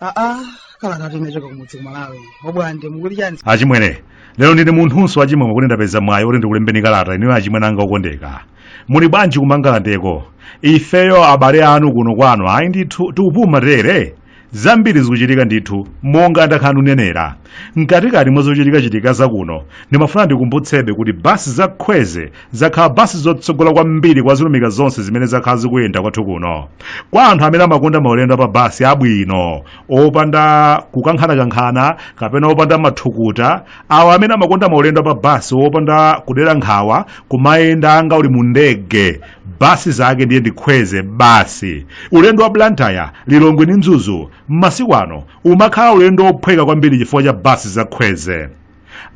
aa kalata yochoka kumudzi kumalawi obwande mukuti chani achimwene lero ndine munthunso wachimwemwe kuti ndapeza mwayi oti ndikulembeni kalata inuyo achimwene anga okondeka muli bwanji kumangalandeko ifeyo abale anu kuno kwanu ayi ndithu tikupuma tere zambiri zikuchitika ndithu monga ndakhala ndikunenera mkatikati mwa zochitikachitika zakuno ndimafuna ndikumbutsebe kuti basi za khweze zakhala basi zotsogola kwambiri kwa zilumika zonse zimene zakhala zikuyenda kwathu kuno kwa anthu amene amakonda maulendo apa basi abwino opanda kukankhanakankhana kapena opanda mathukuta awo amene amakonda maulendo apa basi opanda kudera nkhawa kumayenda ngati uli mu ndege basi zake ndiye ndi khweze basi ulendo wa blantyre lilongwe ndi mzuzu m'masiku ano umakhala ulendo wophweka kwambiri chifukwa cha basi za khweze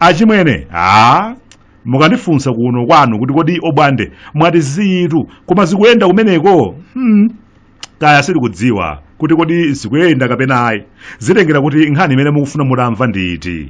achimwene a mukandifunsa kuno kwanu kuti kodi obwande mwati zinthu koma zikuyenda kumeneko hmm. kaya sindikudziwa kuti kodi zikuyenda kapena ayi zitengera kuti nkhani imene mukufuna mutamva ndi iti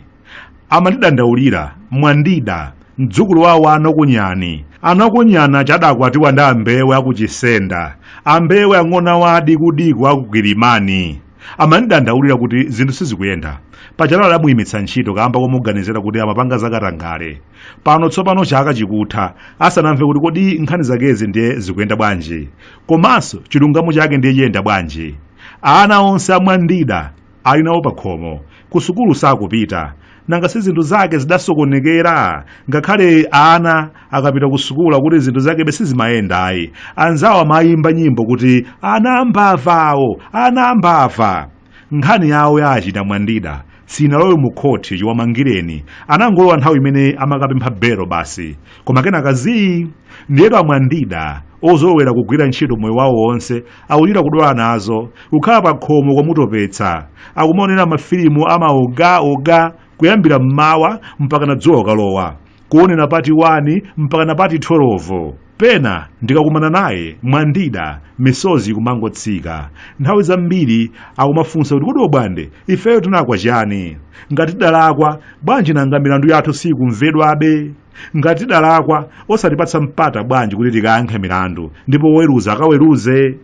amandidandaulira mwandida mdzukulu wawo anakunyani anakunyani aja adakwatiwa ndi ambewe akuchisenda ambewe ang'ona wadi kudiku akugirimani amandidandaulira kuti zinthu sizikuyenda paja adamuyimitsa ntchito kamba komuganizira kuti amapanga zakatangale pano tsopano chaka chikutha asanamve kuti kodi nkhani zakezi ndiye zikuyenda bwanji komanso chilungamo chake ndiye chiyenda bwanji ana onse amwandida ali nawo pakhomo kusukulu sakupita nanga si zinthu zake zidasokonekera ngakhale ana akapita kusukulu kuti zinthu zakebe sizimayenda ayi anzawo amayimba nyimbo kuti ana ambava awo ana ambava nkhani yawo ya che mwandida sinalowe mu khoti chiwamangireni anangolowa nthawi imene amakapempha belo basi koma kenaka zii ndiyetu amwandida ozolowera kugwira ntchito moyo wawo wonse akuchita kudwala nazo kukhala pa khomo kwamutopetsa akumaonera mafilimu amaoga oga kuyambira mmawa mpaka na dzuwa kukalowa kuonera pati 1 mpaka na pati 12 pena ndikakumana naye mwandida misozi kumangotsika nthawi zambiri akumafunsa kuti kodi obwande ifeyo tinalakwa chani ngati tidalakwa bwanji nanga milandu yathu sikumvedwabe ngati tidalakwa osatipatsa mpata bwanji kuti tikayankhe milandu ndipo woweruza akaweruze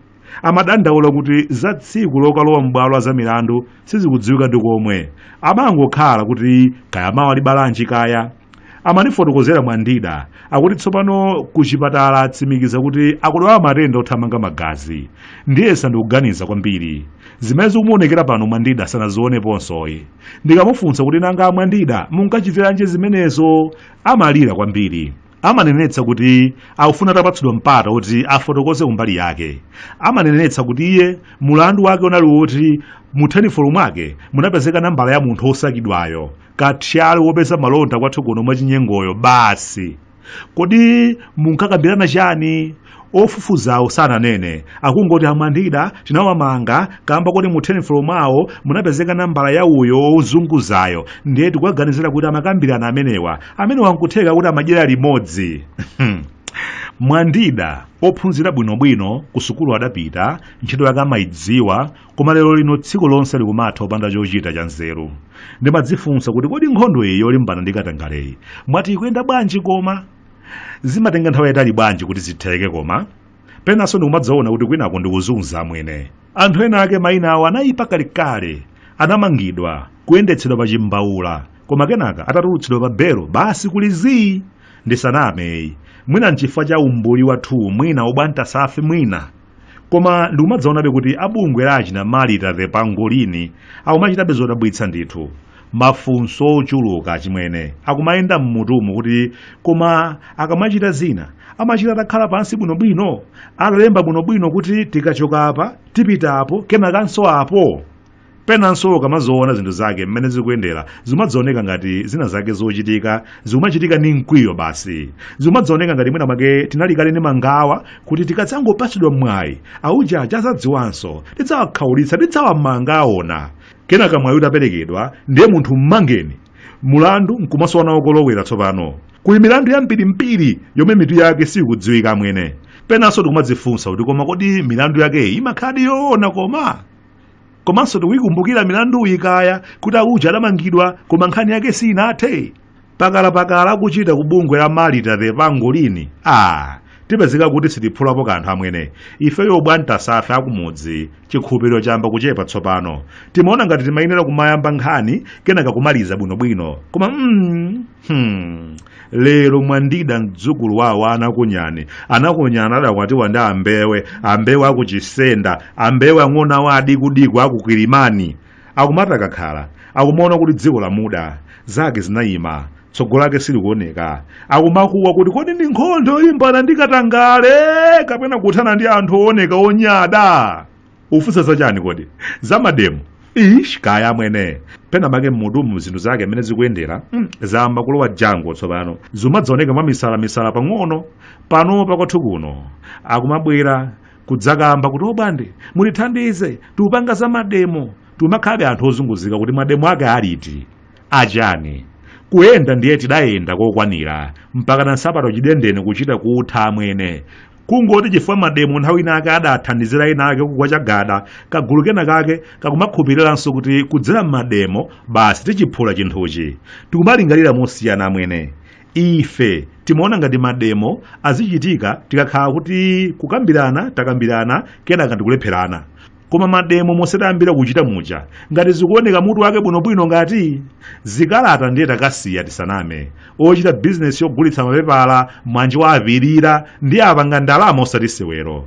Amadandaula kuti za tsiku lokalowa m'bwalo la zamilandu sizikudziwika ndi komwe. Amangokhala kuti kaya mawa libalanji kaya. Amandifotokozera Mwandida akuti tsopano kuchipatala atsimikiza kuti akudwala matenda othamanga magazi. Ndiyesa ndi kuganiza kwambiri. Zimene zikumuonekera pano Mwandida sanazioneponsoyi. Ndikamufunsa kuti nanga Mwandida munkachitiranji zimenezo? Amalira kwambiri. amanenetsa kuti akufuna atapatsidwa mpata woti afotokoze kumbali yake amanenetsa kuti iye mulandu wake unali woti mu thenifolo mwake munapezeka nambala ya munthu wosakidwayo kathyali wopeza malonda kwathu kuno mwachinyengoyo basi kodi munkakambirana chani ofufuzawo sananene akungoti amwandida tinawamanga kamba koti mu tenifolo mwawo munapezeka nambala ya uyo ozunguzayo ndiye tikuwaganizira kuti amakambirana amenewa amenewa nkutheka kuti amadyera limodzi mwandida ophunzira bwinobwino ku sukulu adapita ntchito yake amayidziwa koma lero lino tsiku lonse likumatha opanda chochita cha nzeru ndimadzifunsa kuti kodi nkhondo iyi yolimbana ndi katangaleyi mwati ikuyenda bwanji koma zimatenga nthawi yayitali bwanji kuti zitheke koma penanso ndikumadzaona kuti kwinako ndikuzunza amwene anthu ena ake mayina awo anayipa kalekale anamangidwa kuyendetsedwa pa chimbaula koma kenaka atatulutsidwa pa belo basi kuli zii ndisanameyi mwina nchifukwa cha umbuli wathuwu mwina ubwantasa fi mwina koma ndikumadzaonabe kuti a bungwe la achina marita the pangolini akumachitabe zodabwitsa ndithu mafunso ochuluka achimwene akumayenda mmutumu kuti koma akamachita zina amachita atakhala pansi bwinobwino atalemba bwinobwino kuti tikachoka apa tipita apo kenakanso apo Penanso ukamaziona zinthu zake mmene zikuyendera zimadzaoneka ngati zina zake zochitika zikumachitika ndi mkwiyo basi zikumadzioneka ngati mwina mwake tinali kale ndi mangawa kuti tikadzangopatsidwa mwayi auja adzadziwanso tidzawakhaulitsa tidzawamanga aona kenaka mwayi utaperekedwa ndiye munthu mmangeni mulandu nkumasowa nawo kolowera tsopano kuli milandu yambirimbiri yomwe mitu yake sikudziwika amwene penanso tikumadzifunsa kuti koma kodi milandu yakeyi imakhaladi yoona koma komanso tikuyikumbukira milanduyi kaya kuti auja adamangidwa koma nkhani yake siinathe pakalapakala akuchita ku bungwe la malita the pangolini a tipezeka kuti sitiphulapo kanthu amwene ifeyo abwantasa ife akumudzi chikhulupiriro chayamba kuchepa tsopano timaona ngati timayenera kumayamba nkhani kenaka kumaliza bwinobwino koma mm, Hmm. lero mwandida mdzukulu wawo anakunyani anakunyani adakwatiwa ndi ambewe ambewe akuchisenda ambewe ang'ono awa adikudiku akukilimani akumati akakhala akumaona kuti dziko lamuda zake zinayima tsogolo lake silikuoneka akumakuwa kuti kodi ndi nkhondo yolimbana ndi katangale kapena kuthana ndi anthu ooneka onyada ufunsa za chani kodi za mademo ish kaya amwene pena make mmutumu zinthu zake mmene zikuyendera zayamba kulowa jango tsopano zimadzaoneka mwa misala misala pang'ono pano pakwathu kuno akumabwera kudzakamba kuti obwande mutithandize tiupanga za mademo timakhalabe anthu ozunguzika kuti mademo ake aliti achani kuyenda ndiye tidayenda kokwanira mpaka na nsapato chidendene kuchita kutha amwene kungoti chifukwa mademo nthawi inake adathandizira ena ake kugwa chagada kagulu kena kake kakumakhupiriranso kuti kudzera m'mademo basi tichiphula chinthuchi tikumalingalira mosiyana amwene ife timaona ngati mademo azichitika tikakhala kuti kukambirana takambirana kenaka ndikulepherana koma mademo monse tayambira kuchita muja ngati zikuoneka mutu wake bwinobwino ngati zikalata ndiye takasiya tisaname ochita bizinesi yogulitsa mapepala mwanji wa avilira ndiye apanga ndalama osati sewero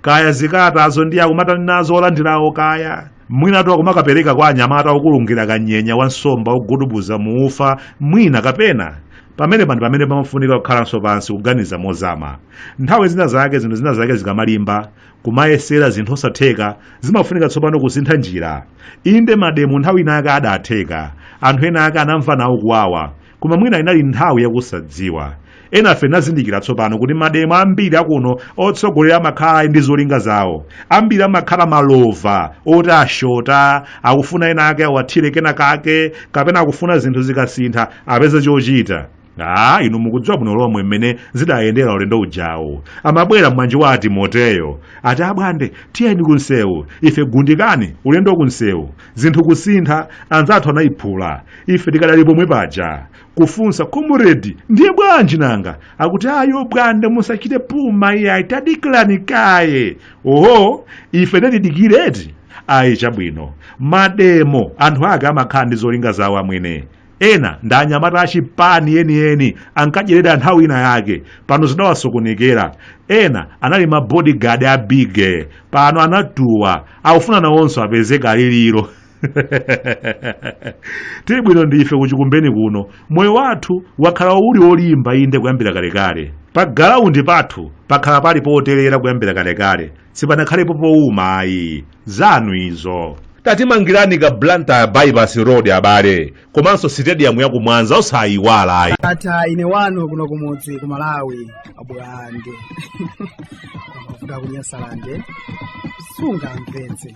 kaya zikalatazo ndiye akumatani nazo olandirawo kaya mwinatu akumakapereka kwa anyamata okulungira kanyenya wa nsomba ogudubuza muufa mwina kapena pamene pa ndi pamene pamafunika kukhalanso pansi kuganiza mozama nthawi zina zake zinthu zina zake zikamalimba kumayesera zinthu osatheka zimafunika tsopano kusintha njira inde mademo nthawi inake adatheka anthu ena ake anamva nawo kuwawa koma mwina inali nthawi yakusadziwa enafe tinazindikira tsopano kuti mademo ambiri akuno otsogolera amakhala ali ndi zolinga zawo ambiri amakhala malova oti ashota akufuna ena ake awathire kena kake kapena akufuna zinthu zikasintha apeze chochita Ah, inu mukudziwa bwino lomwe mmene zidayendera ulendo ujawo amabwera mwanji wa atimoteyo ati abwande tiyeni kunsewu ife gundikani ulendo kunsewu zinthu kusintha anzathu anayiphula ife tikadali pomwe paja kufunsa komuredi ndiye bwanji nanga akuti ayi obwande musachite phuma iyayi tadikirani kaye oho ife nde tidikire eti ayi chabwino mademo anthu ake amakhala ndi zolinga zawo amwene ena ndi anyamata achipani enieni ankadyerera nthawi ina yake pano zidawasokonekera ena anali ma bodyguard a bige pano anatuwa akufuna nawonso apeze kodyera tili bwino ndife kuchikumbeni kuno moyo wathu wakhala uli wolimba inde kuyambira kalekale pa galaundi pathu pakhala pali potelera kuyambira kalekale sipanakhalepo powuma ayi zanu izo tatimangirani ka blantyre bypass road abale komanso sitediyamu ya kumwanza osayiwala ayi ata ine wanu kuno kumudzi ku malawi abwande kuda kunyasalande sunga mpenzi